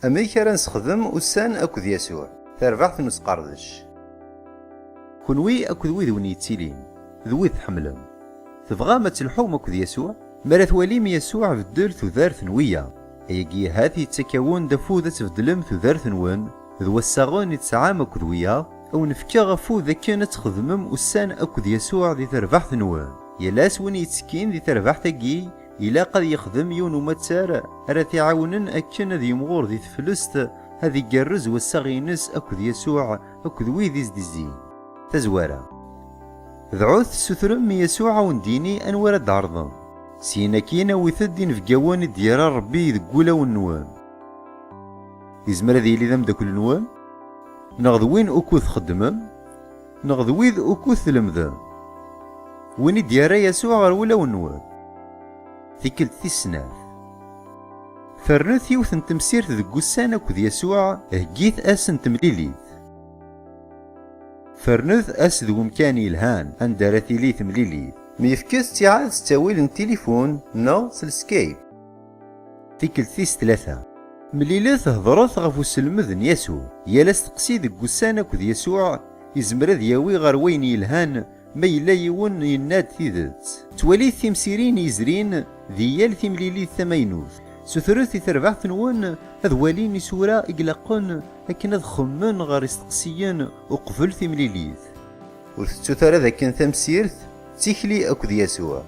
Amek ara nessexdem ussan akked Yasuɛ? Tarbaɛt n usqerdec. Kenwi akked wid wen yettilin d wid tḥemmlem, tebɣam ad telḥum akked Yasuɛ? Mi ara twalim Yasuɛ beddel tudert n wiyaḍ, ayagi ahat yettak-awen-d afud ad tbeddlem tudert-nwen d wassaɣen i tesɛam akked wiyaḍ, ad wen-fkeɣ afud akken ad txedmem ussan akked Yasuɛ di terbaɛt-nwen. Yal ass win yettekkin di terbaɛt-agi, Ilaq ad yexdem yiwen umattar ara t-iɛawnen akken ad yimɣur di teflest, ad igerrez wassaɣ-ines akked Yasuɛ akked wid i s-d-izzin. Tazwara. Dɛut tessutrem i Yasuɛ a wen-d-yini anwa ara d-tɛerḍem. Syin akkin awit-d inebgawen i d-yerra Rebbi deg wulawen-nwen. Yezmer ad yili d ameddakel-nwen, neɣ d win ukud txeddmem. Neɣ d wid ukud tlemdem. Win i d-yerra Yasuɛ ɣer wulawen-nwen. Tikkelt tis snat. Fernet yiwet n temsirt deg wussan akked Yasuɛ, heggit ass n temlilit. Fernet ass d wemkan yelhan anda ara tili temlilit. Myefket ttiɛad s ttawil n tilifun neɣ s lskayp. Tikkelt tis tlata. Mlilet hedṛet ɣef uselmed n Yasuɛ. Yal asteqsi deg wussan akked Yasuɛ yezmer ad yawi ɣer wayen yelhan, ma yella yiwen yenna-d tidet. Ttwalit timsirin yezrin di yal timlilit tamaynut. Sutret i terbaɛt-nwen ad walin isura i ilaqen akken ad xemmen ɣer isteqsiyen uqbel timlilit. Ur tettut ara dakken tamsirt d tikli akked Yasuɛ.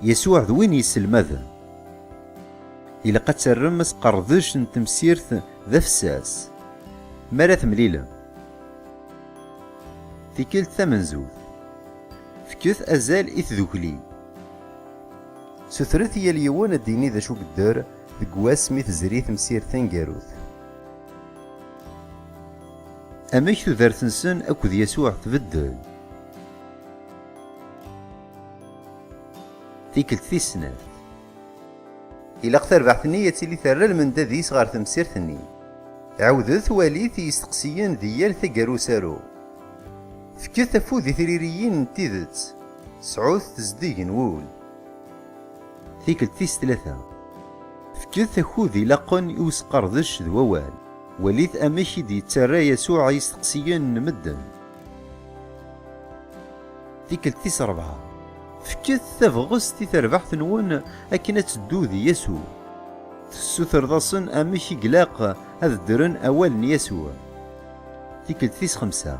Yasuɛ d win yesselmaden. Ilaq ad terrem asqerdec n temsirt d afessas mi ara temlilem. Tikkelt tamenzut, fket azal i tdukli. Sutret i yal yiwen ad d-yini d acu yedder deg wass mi tezri temsirt taneggarut. Amek tudert-nsen akked Yasuɛ tbeddel? Tikkelt tis snat. Ilaq tarbaɛt-nni ad tili terra lmendad-is ɣer temsirt-nni. Ɛawdet walit i yisteqsiyen di yal taggara usaru. Fket afud i tririyin n tidet. Sɛut tezdeg n wul. Tikkelt tis tlata. Fket akud ilaqen i usqerdec d wawal. Walit amek i d-yettarra Yasuɛ i yisteqsiyen n medden. Tikkelt tis rebɛa, fket tabɣest i terbaḥt-nwen akken ad teddu d Yasuɛ. Tessutreḍ-asen amek i glaq ad ddren awal n Yasuɛ. Tikkelt tis xemsa,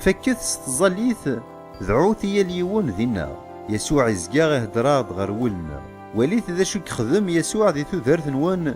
fakket s tẓallit, dɛut i yal yiwen dinna. Yasuɛ izga ihedder-aɣ-d ɣer wul-nneɣ. Walit d acu i yexdem Yasuɛ di tudert-nwen